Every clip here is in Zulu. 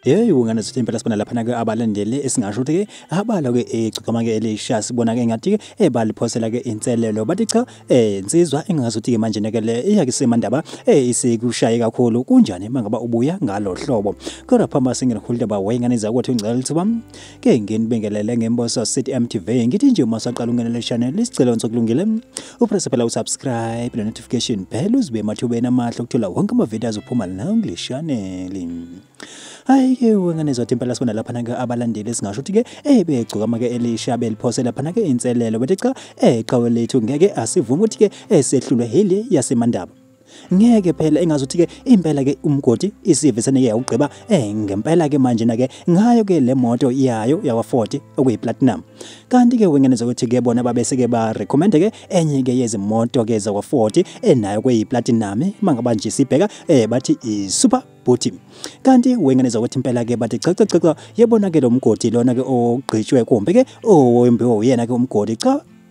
Hey ungane sithi impela sibona lapha nake abalandele esingasho ukuthi ke abala ke egcikama ke elisha sibona ke ngathi ke ebaliphosela ke inselelo bathi cha eh insizwa engazi ukuthi ke manje neke le iya ke semandaba eh isikushaye kakhulu kunjani mangaba ubuya ngalo hlobo kodwa phamba singene khulile ba wayengane zakwethu ngicela ukuthi bam ke nginibingelele ngemboso City MTV ngithi nje uma saqala ungenele channel isicelo ngizokulungile uprese phela usubscribe ne-notification bell uzibe emathubeni amahle okuthola wonke amavidiyo azophuma la kule shaneli hhayi-ke wengane zothi impela sibona laphana-ke abalandeli esingasho ukuthi-ke ebegcokama-ke elisha beliphosa laphana-ke inselelo bethi cha eqhawe lethu ngeke asivume ukuthi-ke esehlulwe hili yasemandaba ngeke phela engazothi ke impela ke umgodi isive sene yawugqiba eh ngempela ke manje na ke ngayo ke le moto yayo yawa 40 okuyi platinum kanti ke wengene zokuthi ke bona babese ke ba recommend ke enye ke yezimoto ke zawa 40 enayo kweyi platinum mangaba nje sibheka eh bathi i super bhuti kanti wengane zakwethu impela ke bathi cha cha cha yebona ke lo mgodi lona ke ogqitshwe kumbe ke owembiwe uyena ke umgodi cha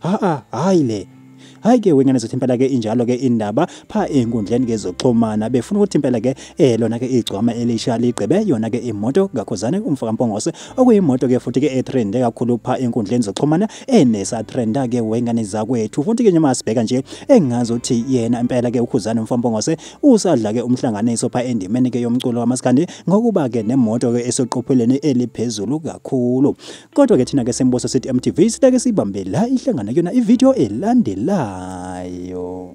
Haa hayi le hayi ke wengane zothi impela ke injalo ke indaba pha enkundleni ke zoxhumana befuna ukuthi impela ke eh lona ke igcwama elisha ligqibe yona ke imoto kakhozane umfaka mpongose okuyimoto ke futhi ke etrende kakhulu pha enkundleni zoxhumana enesa trenda ke wengane zakwethu futhi ke noma sibheka nje engazi ukuthi yena impela ke ukhuzane umfaka mpongose usadla ke umhlanganiso pha endimeni ke yomculo wamaskandi ngokuba ke nemoto ke esoqopheleni eliphezulu kakhulu Kodwa ke thina ke Semboso City MTV sitake sibambe la ihlangana kuyona ivideo elandelayo.